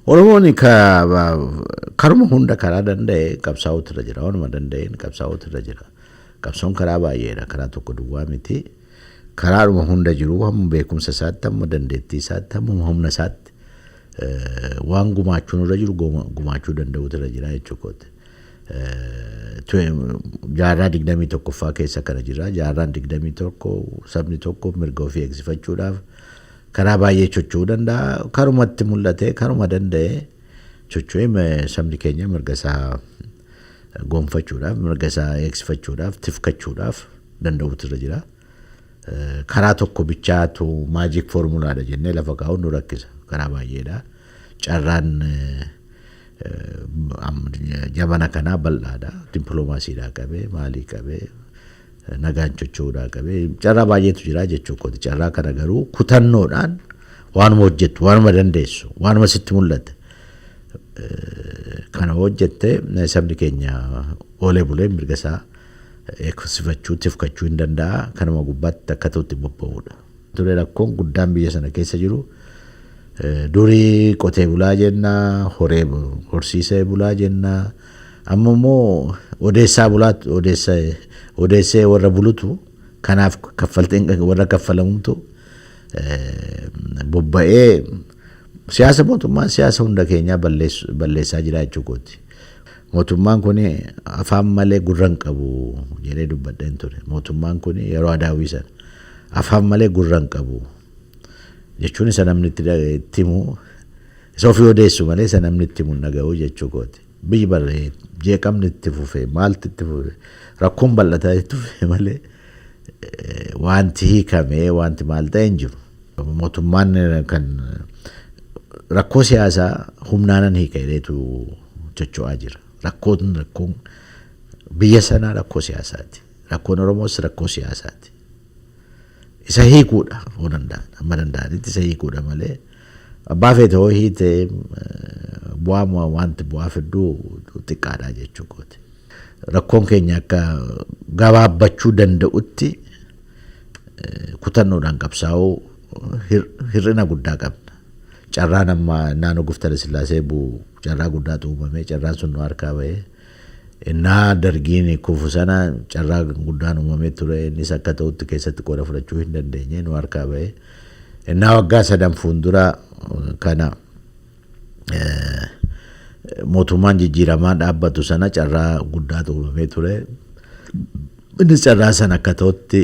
Oromoon ka- ba- karuma hunda karaa danda'e qabsaa'uutu irra jira. Waanuma danda'een qabsaa'uutu irra jira. Qabsoon karaa baay'eedha. Karaa tokko duwwaa miti. Karaadhuma hunda jiru hamma beekumsa isaatti, hamma dandeettii isaatti, hamma humna isaatti Waan gumaachuun irra jiru gumaachuu danda'uutu irra jira jechuu kooti. Jaarraa 21ffaa keessa kana jira. Jaarraan 21 sabni tokko mirga ofii eegsifachuudhaaf karaa baay'ee chocho'uu danda'a. Karumatti mul'ate karuma danda'e chocho'ee sabni keenya mirga isaa gonfachuudhaaf mirga isaa eegsifachuudhaaf tifkachuudhaaf danda'uutu irra jira. Karaa tokko bichaatu magic formula dha jennee lafa kaa'uun nu rakkisa. Karaa baay'eedha. Carraan jabana kanaa bal'aadha. Dippiloomaasiidhaa qabee maalii qabee nagaan chocho'uudhaa qabee carraa baay'eetu jira jechuu kooti. Carraa kana garuu kutannoodhaan waanuma hojjettu, waanuma dandeessu, waanuma sitti mul'ate kana hojjette sabni keenya oolee bulee mirga isaa eegsifachuu, tifkachuu hin danda'a. Kanuma gubbaatti akka ta'u itti bobba'uudha. ture rakkoon guddaan biyya sana keessa jiru durii qotee bulaa jenna horee horsiisee bulaa jenna amma immoo odeessaa bulaa odeessa odeessee warra bulutu kanaaf kaffaltiin warra kaffalamumtu bobba'ee siyaasa mootummaan siyaasa hunda keenyaa balleessaa jira jechuu kooti. Mootummaan kuni afaan malee gurra hin qabu jedhee dubbadheen ture. Mootummaan kuni yeroo Adaawwii sana afaan malee gurra hin qabu jechuun isa namni itti da- itti himu isa ofii odeessu malee isa namni itti himu hin dhaga'u jechuu kooti. Biyyi barree jeeqamni itti fufee maalti itti fufee rakkoon bal'ataa itti fufee malee eh, wanti hiikamee wanti maal ta'e hin jiru. Mootummaan eh, kan rakkoo siyaasaa humnaanan hiika jedheetu chocho'aa jira. Rakkoon rakkoon biyya sanaa rakkoo siyaasaati. Rakkoon Oromoos rakkoo siyaasaati. Isa hiikuudha yoo danda'an amma danda'anitti isa hiikuudha malee abbaa feete hoo hiite bu'aa wanti bu'aa fidduu xiqqaadha jechuu kooti. Rakkoon keenya akka gabaabbachuu danda'utti kutannoodhaan qabsaa'uu hir'ina guddaa qabna. Carraan amma naannoo Guftara Sillaasee bu'u Carraa guddaatu uumame. Carraan sun nu harkaa ba'e. Innaa Dargiin kufu sana carraa guddaan uumamee ture. Innis akka ta'utti keessatti qooda fudhachuu hin dandeenye. Nu harkaa ba'e. Innaa waggaa sadan fuuldura kana mootummaan jijjiiramaa dhaabbatu sana carraa guddaatu uumamee ture. Innis carraa sana akka ta'utti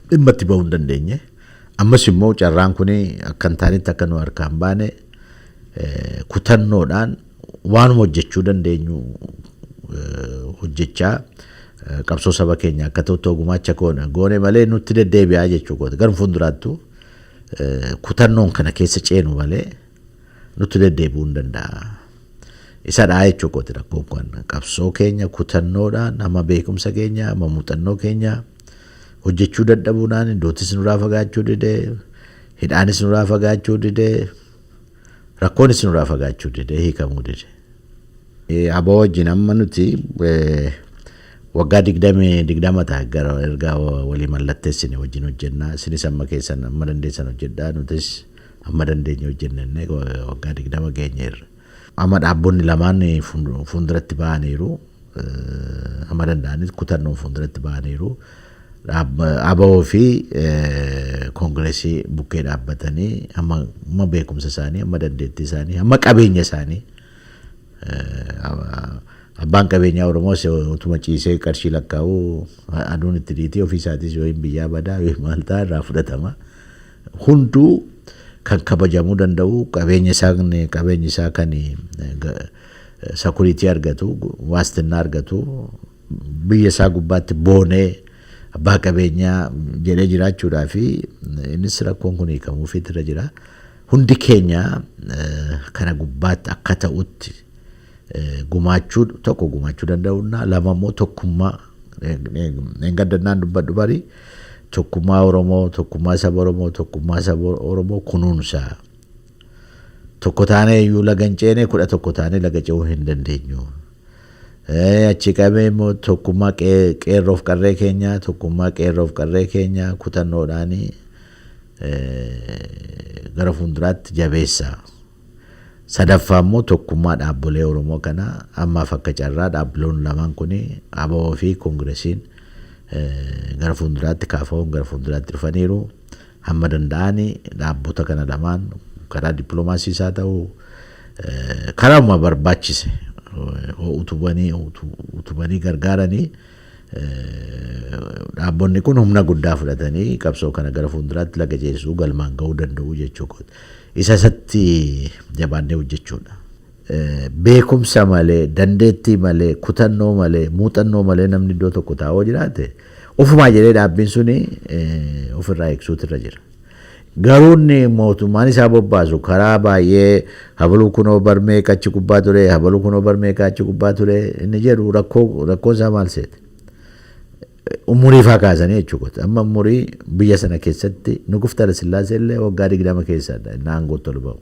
dhimma itti ba'uu hin dandeenye. Ammas immoo carraan kun akka hin taanetti akka nu harkaa hin baane kutannoodhaan waanuma hojjechuu dandeenyu hojjechaa qabsoo saba keenya akka ta'utti yoo gumaacha goone malee nutti deddeebi'aa jechuu kooti. Garuu fuulduraattuu kutannoon kana keessa ceenu malee nutti deddeebi'uu hin danda'a. Isa dhaa jechuu kooti rakkoon kun. Qabsoo keenya kutannoodhaan amma beekumsa keenya amma muuxannoo keenya hojjechuu dadhabuudhaan duutis nurraa fagaachuu didee hidhaanis nurraa fagaachuu didee Rakkoon isin irraa fagaachuu dide, hiikamuu dide. Abo wajjin amma nuti waggaa digdamii digdama ta'a gara erga walii mallatteessine wajjin hojjennaa isinis amma keessan amma dandeessan hojjedhaa nutis amma dandeenye hojjenna jennee waggaa digdama geenyeerra. Amma dhaabbonni lamaan fuulduratti ba'aniiru. Hamma danda'anis kutannoon fuulduratti ba'aniiru. ABO fi Koongireesii bukkee dhaabbatanii hamma beekumsa isaanii, hamma dandeettii isaanii, hamma qabeenya isaanii abbaan qabeenyaa Oromoos utuma ciisee qarshii lakkaa'u aduun itti dhiitii ofii isaatiis yookiin biyyaa badaa yookiin maal ta'a irraa fudhatama. Hunduu kan kabajamuu danda'u qabeenya isaa kan sakuriitii argatu, waastinnaa argatu, biyya isaa gubbaatti boonee abbaa qabeenyaa jedhee jiraachuudhaa fi innis rakkoon kun hiikamuufiitu irra jira. Hundi keenya kana gubbaatti akka ta'utti gumaachuu tokko gumaachuu danda'uunna lama immoo tokkummaa dheengaddannaan dubbadhu barii tokkummaa Oromoo, tokkummaa saba Oromoo, tokkummaa saba Oromoo kunuunsaa. Tokko taanee iyyuu laga hin ceene kudha tokko taanee laga ce'uu hin dandeenyu. Achi qabee immoo tokkummaa qeerroof qarree keenya tokkummaa qeerroof qarree keenya kutannoodhaan gara fuulduraatti jabeessa. Sadaffaa immoo tokkummaa dhaabbolee Oromoo kana ammaaf akka carraa dhaabbiloon lamaan kun ABO fi Koongiresiin gara fuulduraatti kaafahuun gara fuulduraatti dhufaniiru. Hamma danda'ani dhaabbota kana lamaan karaa diplomaasiis haa ta'u karauma barbaachise hoo utubanii utubanii gargaaranii dhaabbonni kun humna guddaa fudhatanii qabsoo kana gara fuulduraatti laga ceesisuu galmaan ga'uu danda'u jechuu kooti. Isa isatti jabaannee hojjechuudha. Beekumsa malee, dandeettii malee, kutannoo malee, muuxannoo malee namni iddoo tokko taa'u yoo jiraate ofumaa jedhee dhaabbiin suni ofirraa eegsuutu irra jira. Garuu inni mootummaan isaa bobbaasu karaa baay'ee habaluu kunoo bar meeqa achi gubbaa ture, habaluu kunoo bar meeqa achi gubbaa ture inni jedhu rakkoo rakkoon isaa maal seete? Umurii faa kaasanii jechuudha. Amma umurii biyya sana keessatti Nuguf Tala Sillaasee illee waggaa digdama keessadha inni aangootti ol ba'u.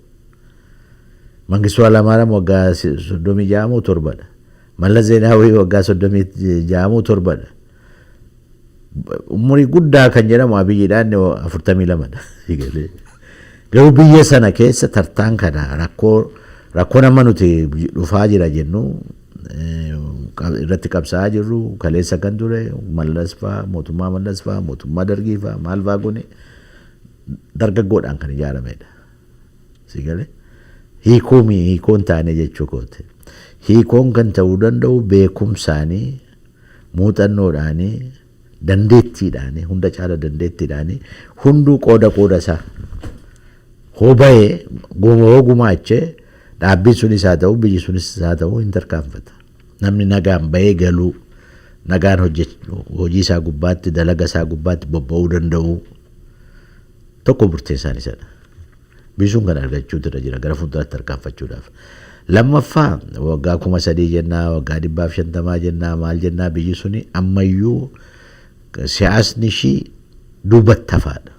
Mangistuu Hailamaaram waggaa 36 moo 7 dha. Mallas Zeenaawwii waggaa 36 moo 7 dha. Umurii guddaa kan jedhamu Abiyyiidha inni 42 dha. Garuu biyya sana keessa tartaan kana rakkoo rakkoon amma nuti dhufaa jira jennu irratti qabsaa'aa jirru kaleessa kan ture mallas fa'aa mootummaa mallas fa'aa mootummaa dargii fa'aa maal fa'aa kun dargaggoodhaan kan ijaaramedha. Si galee? Hiikoo mii hiikoo hin taane jechuu kooti. Hiikoon kan ta'uu danda'u beekumsaani, muuxannoodhaani, dandeettiidhaani, hunda caala dandeettiidhaani hunduu qooda qooda isaa hoo bahee guma hoo gumaache dhaabbiin sunis haa ta'u biyyi sunis haa ta'u hin tarkaanfata. Namni nagaan bahee galuu, nagaan hojjech- hojii isaa gubbaatti, dalaga isaa gubbaatti bobba'uu danda'uu. Tokko murteessaan isa dha. Biisuun kana argachuutu irra jira gara fuulduraatti tarkaanfachuudhaaf. Lammaffaa waggaa kuma sadii jennaa, waggaa dhibbaa fi shantamaa jennaa, maal jennaa biyyi suni amma iyyuu siyaasni ishii duubatti hafaa dha.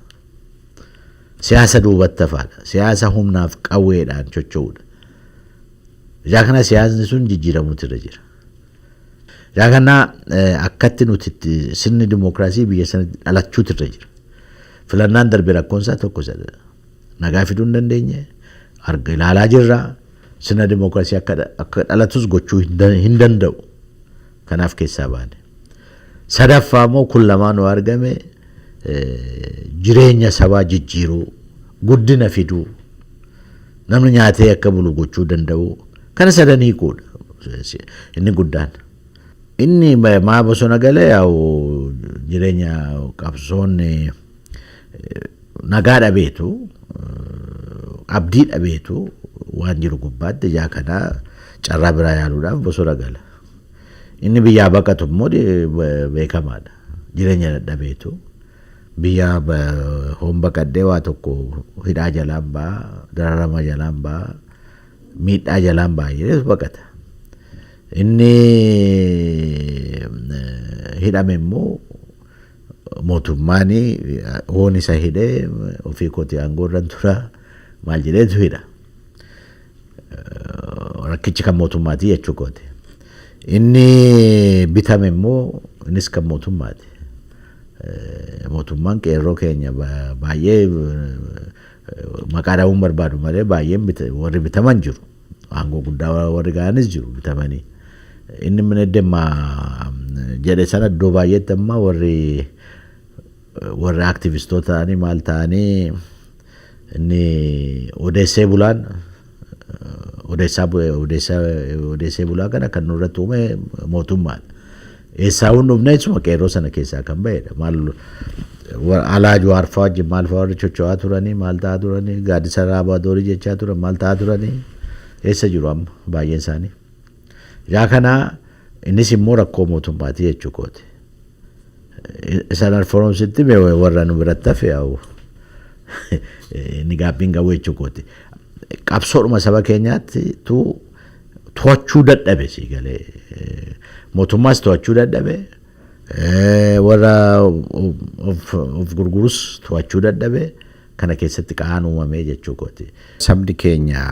Siyaasa duubatti hafaa dha. Siyaasa humnaaf qawweedhaan chocho'u dha. Ijaa kana siyaasni sun jijjiiramuutu irra jira. Yaa kana akkatti nuti itti sirni dimookiraasii biyya sanatti dhalachuutu irra jira. Filannaan darbe rakkoon isaa tokko isa nagaa fiduu hin dandeenye arga ilaalaa jirra. Sirna dimookiraasii akka akka dhalatus gochuu hin dan- hin danda'u. Kanaaf keessaa baane. Sadaffaa immoo kun lamaan yoo argame eh, jireenya sabaa jijjiiruu, guddina fiduu, Namni nyaatee akka bulu gochuu danda'u kana sadan hiikuudha inni guddaan. Inni maa bosona gale yaa'u jireenya qabsoon nagaa dhabeetu abdii dhabeetu waan jiru gubbaatti ijaa kana carraa biraa yaaluudhaaf bosona gala. Inni biyyaa baqatu immoo beekamaadha jireenya dadhabeetu. Biyyaa bahoon baqadhee waa tokko hidhaa jalaan ba'a, dararama jalaan ba'a, miidhaa jalaan ba'a jedheetu baqata. Inni hidhame immoo mootummaan hoon isa hidhe ofii kooti aangoo irran tura maal jedheetu hidha. Rakkichi kan mootummaati jechuu kooti. Inni bitame immoo innis kan mootummaati. Mootummaan qeerroo keenya baay'ee maqaa dhahuun barbaadu malee baay'een warri bitaman jiru. Aangoo guddaa warri ga'anis jiru bitamanii. Inni minedemma jedhe sana iddoo baay'eetti amma warri warri aktivistoota ta'anii maal ta'anii Inni odeessee bulaan odeessaa bu- odeessaa odeessee bulaa kana kan nurratti uume mootummaadha. Eessaa hin dhufne isuma qeerroo sana keessaa kan ba'edha. Maal wa- alaa juwaarfaa wajjin maal fa'aa warri chocho'aa turanii maal ta'aa turanii gaaddisa raabaa doorii jechaa turan maal ta'aa turanii eessa jiru amma baay'een isaanii. Yaa kana innis immoo rakkoo mootummaati jechuu kooti. Isan alforomsitti mee warra nu biratti hafe yaa'u inni gaabbiin qabu jechuu kooti. Qabsoodhuma saba keenyaatti tu to'achuu dadhabe sii galee mootummaas to'achuu dadhabe warra of gurgurus to'achuu dadhabe. Kana keessatti qa'aan uumame jechuu kooti. Sabni keenya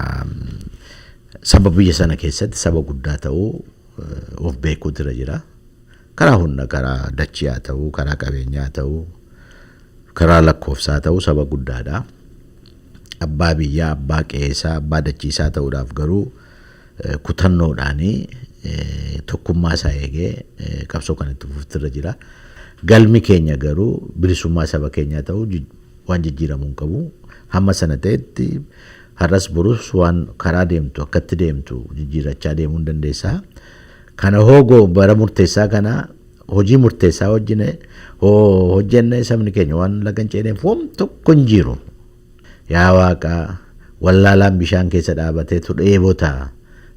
saba biyya sana keessatti saba guddaa ta'uu of beekuutu irra jira. Karaa hunda karaa dachii haa ta'uu, karaa qabeenyaa haa ta'uu, karaa lakkoofsaa haa ta'uu saba guddaadha. Abbaa biyyaa, abbaa qe'eesaa, abbaa dachiisaa ta'uudhaaf garuu kutannoodhaan tokkummaa isaa eegee qabsoo kan itti fufuutu irra jira. Galmi keenya garuu bilisummaa saba keenyaa ta'uu Waan jijjiiramu hin qabu. Hamma sana ta'etti har'as borus waan karaa deemtu akkatti deemtu jijjiirrachaa deemuu hin dandeessa. Kana hoo go bara murteessaa kana hojii murteessaa hojjine hoo hojjenne sabni keenya waan laga hin ceeneef waan tokko hin jiru. Yaa waaqa wallaalaan bishaan keessa dhaabateetu dheebota.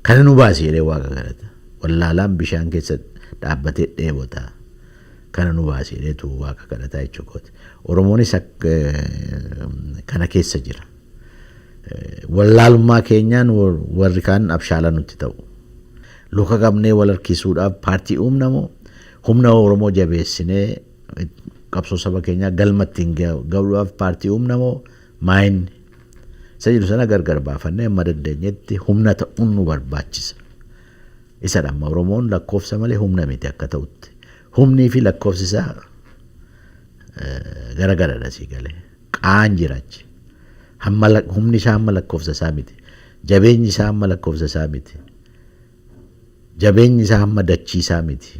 Kana nu baasi jedhee waaqa kadhata. Wallaalaan bishaan keessa dhaabbatee dheebota. kana nu baasi jedheetu waaqa kadhataa jechuu kooti. Oromoonis kana keessa jira. Wallaalummaa keenyaan warri kaan abshaala nutti ta'u. Luka qabnee wal harkisuudhaaf paartii uumna moo humna Oromoo jabeessinee qabsoo saba keenyaa galma ittiin ga'uudhaaf paartii uumna moo maayinni isa jedhu sana gargar baafannee amma dandeenyetti humna ta'uun nu barbaachisa. Isa dhamma Oromoon lakkoofsa malee humna miti akka ta'utti. Humnii fi lakkoofsi isaa gara garadha sii gale. Qaan jira achi. Hamma humni isaa hamma lakkoofsa isaa miti. Jabeenyi isaa hamma lakkoofsa isaa miti. Jabeenyi isaa hamma dachii isaa miti.